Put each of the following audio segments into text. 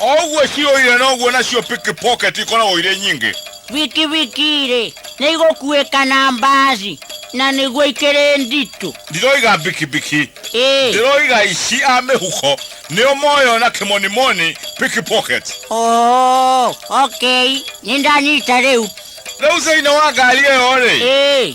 o ũguo ciũire noguo nacio pickpocket ikoragwo irĩ nyingĩ bikibiki-rĩ nĩ igũkuĩka na mbaci na nĩguo ikĩrĩ nditũ ndiroiga bikibiki ĩĩ ndiroiga aici a mĩhuko nĩo moyo na kĩmonimoni pickpocket oo okay nĩ ndanyita rĩu rĩu thĩinĩ wa ngari ĩyo-rĩ ĩĩ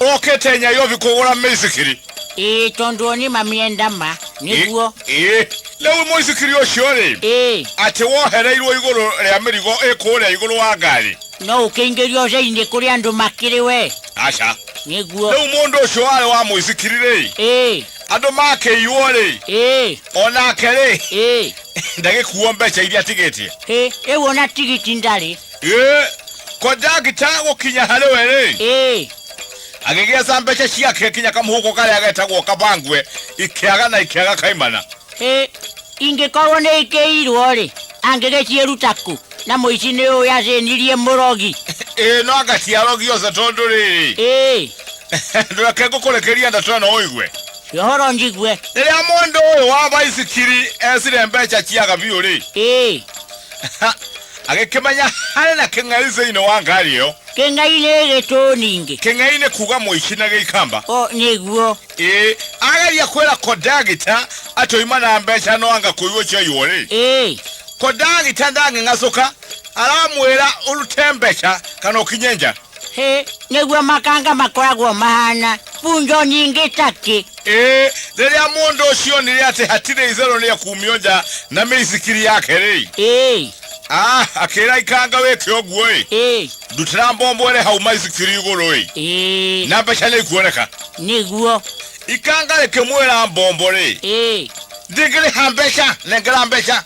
ũkĩte nyayobi kũgũra mĩithikiri ĩĩ tondũ o nĩ mamĩenda ma nĩguo ĩĩ rĩu mũithikiri ũcio rĩ ĩĩ atĩ wohereirwo igũrũ rĩa mĩrigo ĩkũrĩa igũrũ wa ngari no ũkĩingĩria ũceinĩ kũrĩa andũ makĩrĩ we aca nĩguo rĩu mũndũ ũcio warĩ wa mũithikiri rĩ ĩĩ andũ makĩiywo rĩ ĩĩ o nake rĩ ĩĩ ndagĩkuo mbeca iria atigĩtie ĩ rĩu ona tigiti ndarĩ Ĩ, ko ndagita gũkinya harĩ we rĩ ĩĩ agĩgĩa ca mbeca ciake kinya kamũhuko karĩa getagwo kabangwe ikĩaga na ikĩaga kaimana ĩĩ ingĩkorwo nĩ ikĩirwo rĩ angĩgĩciĩruta kũ na mũici nĩ ũyũ yacĩnirie mũrogi ĩĩ no anga ciarogiose tondũ rĩrĩ ĩĩ ndũreke ngũkũrekeria ndeto ĩno ũigue ũhoro njigue rĩrĩa mũndũ ũyũ wa baithikiri ecire mbeca ciaga biũ rĩ ĩĩ agĩkĩmanya harĩ na kĩng'ai thĩinĩ wa ngari ĩyo kĩng'ai nĩ gĩtũ ningĩ kĩng'ai nĩ kuga mũici na gĩikamba o nĩguo ĩĩ ageria kwĩra kondagita atoima na mbeca no anga kũigua ciaiywo rĩ ĩĩ kondagita ndang'ing'acũka aramwĩra ũrute mbeca kana ũkinye nja Ĩ, nĩguo makanga makoragwo mahana bunjo nyingĩ caki. Ĩĩ, rĩrĩa mũndũ ũcio onire atĩ hatirĩ itherũ nĩ ekumio nja na mĩithikiri yake-rĩ, Ĩ, ah, akĩra ikanga wĩke ũguo-ĩ, ĩ, ndutĩra mbombo ĩrĩ hau maithikiri igũrũ-ĩ, ĩ, na mbeca nĩ ikuoneka. nĩguo. Ikanga rĩkĩmwĩra mbombo-rĩ, Ĩ, ndingĩrĩha mbeca, nengera mbeca.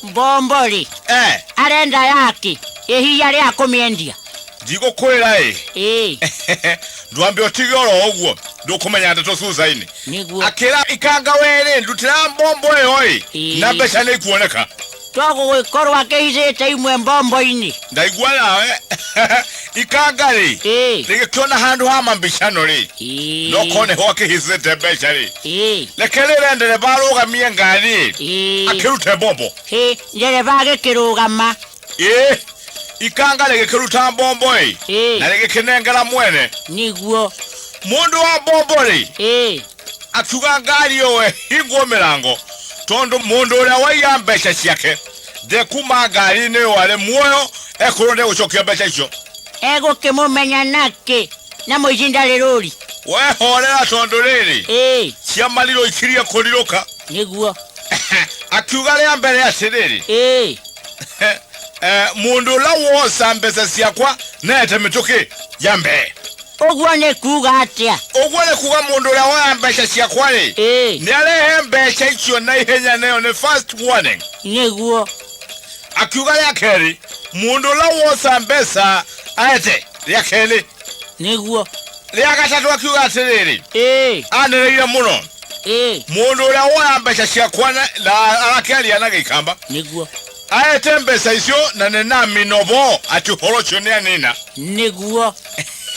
mbombo rĩ eh arenda yake ĩhiya rĩa kũmĩendia ndigũkwĩra ĩ ĩĩ ndwambe ũtige oro ũguo ndũkũmenya ndeto cucainĩ nĩguo akĩra ikanga werĩ ndutĩra mbombo ĩyo ĩ Ĩĩ. na mbeca nĩ ikuoneka togũgĩkorwo akĩhithĩte imwe mbombo-inĩ ndaigua nawe ikanga rĩ Ĩĩ. rĩgĩkĩona handũ ha mambicano rĩ Ĩĩ. no kone ho akĩhicĩte mbeca rĩ Ĩĩ. reke rĩrĩa ndereba arũgamie ngari Ĩĩ. akĩrute mbombo Ĩĩ. Ndereba agĩkĩrũgama. ĩ ikanga rĩgĩkĩruta mbombo ĩ Ĩĩ. na rĩgĩkĩnengera mwene Nĩguo. mũndũ wa mbombo rĩ Ĩĩ. akiuga ngari ĩyo hingwo mĩrango tondũ mũndũ ũrĩa waiya mbeca ciake Thĩ kuma ngari-inĩ ĩyo arĩ muoyo ekorwo nĩ gũcokia mbeca icio. Egũkĩmũmenya nakĩ na mũici ndarĩ rũri? Wehorera tondũ rĩrĩ, Ĩĩ, cia marirũ ikirie kũrirũka. nĩguo. Akiuga rĩa mbere atĩrĩrĩ, Ĩĩ, eh, mũndũ ũrĩa woca mbeca ciakwa nete mĩtũkĩ ya mbere. Ũguo nĩ kuuga atĩa? Ũguo nĩ kuuga mũndũ ũrĩa woya mbeca ciakwa-rĩ, Ĩĩ. nĩ arehe mbeca icio na ihenya na ĩyo nĩ first warning. Nĩguo. Akiuga rĩa kerĩ, mũndũ ũrĩa woca mbeca aete rĩa kerĩ. Nĩguo. Rĩa gatatũ akiuga atĩrĩrĩ, Ĩĩ. anĩrĩire mũno, Ĩĩ. mũndũ ũrĩa woya mbeca ciakwa na na arakĩaria na gĩikamba. Nĩguo. aete mbesa icio na ninamino bo ati uhoro ucio nianina nĩguo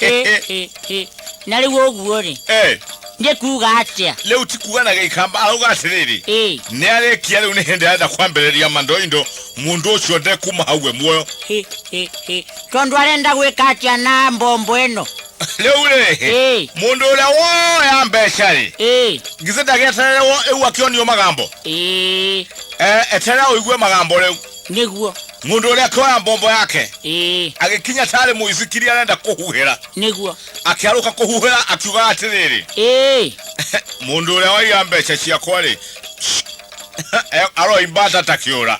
Ĩ, ĩ, ĩ. na rĩu ũguo-rĩ Eh, nĩ kuuga atĩa riu ti kuga na gĩikamba arauga atĩrĩrĩ Ĩ, nĩarĩkia rĩu nĩ hĩndĩ arenda kwambĩrĩria mandoindo mũndũ ũcio ndekuma hau we muoyo ĩ, ĩ, ĩ. tondũ arenda gwĩka atĩa na mbombo ĩno leule Eh. mundu uria woya mbecari ĩ ngithe ndagieterere wo- eu akionio magambo ĩ Eh, eterera uigue magambo riu nĩguo mundu uria akioya mbombo yake ĩ agikinya tari muithikiri arenda kuhuhira nĩguo akiaruka kuhuhira akiuga atiriri ĩ mundu uria waiya mbeca ciakwa ri aroimba tata kiura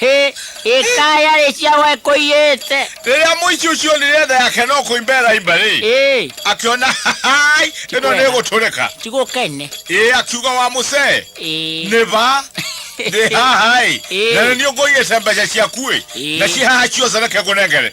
Hĩ, ĩkaya rĩ ciawe kũiyĩte. rĩrĩa mũici ũcio onire tha yake no kũimba ĩraimba rĩ Ĩ, akĩona hai ĩno nĩ Tikwega. gũtũrĩka tigũkene. ĩ akiuga wa mũcee Ĩ, nĩ ba ndĩ haha ĩ Ĩ. na nĩ niĩ ngũigĩte mbeca ciaku ĩ Ĩ. na ciĩ haha ciothe reke ngũnengere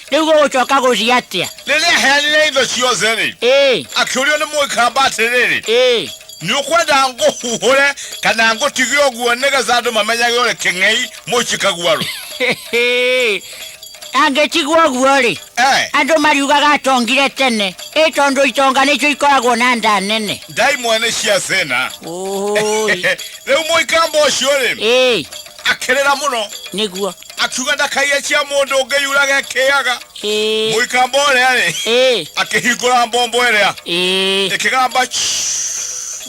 rĩu gũgũcoka gũthiĩ atĩa rĩrĩa aheanire indo ciothe-rĩ ĩĩ akĩũrio nĩ mũikamba atĩrĩrĩ ĩĩ nĩ ũkwenda ngũhuhũre kana ngũtige ũguo nĩgetha andũ mamenyage ũrĩ kĩng'ei mũici kaguarũ angĩtigwo ũguo-rĩ Eh, andũ mariugaga atongire tene ĩ tondũ itonga nĩcio ikoragwo na nda nene ndai mwene cia thĩna Ũũi. rĩu mũikamba ũcio-rĩ ĩĩ akĩrĩra mũno nĩguo akiuga ndakaiye cia mundu ungi yuraga ekiaga Eh, muikamba uria ri eh, akihingura mbombo iria eh. ikigamba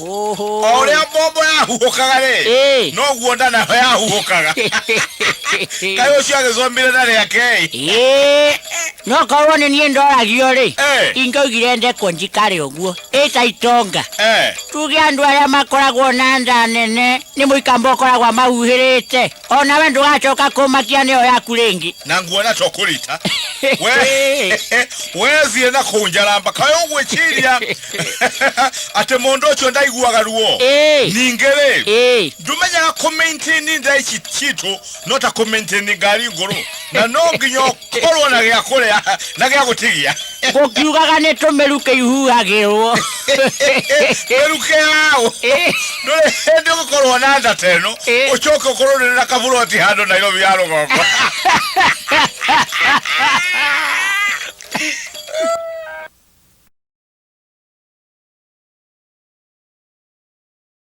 Oho. o uria mbombo yahuhukaga ri Eh. noguo nda nayo yahuhukaga kai ucio agicomire nda riake Eh, no korwo nĩ niĩ ndoragio rĩ Eh. ingaugire ndekwo njikare ũguo ĩta itonga eh tuge andũ arĩa makoragwo na nda nene nĩ mũikamba ũkoragwo amahuhĩrĩte O nawe ndũgacoka kũmakia nĩyo yaku rĩngĩ. na nguona to kũrita we wethiĩ na kũnjaramba kaĩ ũgwĩciria atĩ mũndũ ũcio ndaiguaga ruo Ĩĩ. ningĩ-rĩ Ĩĩ. ndũmenyaga kũmaintaini nda ici citũ no ta kũmaintaini ngari ngũrũ na no nginya ũkorwo na gĩa kũrĩa na gĩa gũtigia gũkiugaga nĩ tũmeru kĩihuhagĩrwo weruke yaũ ndũrĩ hĩndĩ ũgũkorwo na nda ta ĩno Eh. ũcoke ũkorwo nĩ na kaburoti handũ nairobi ya rũgongo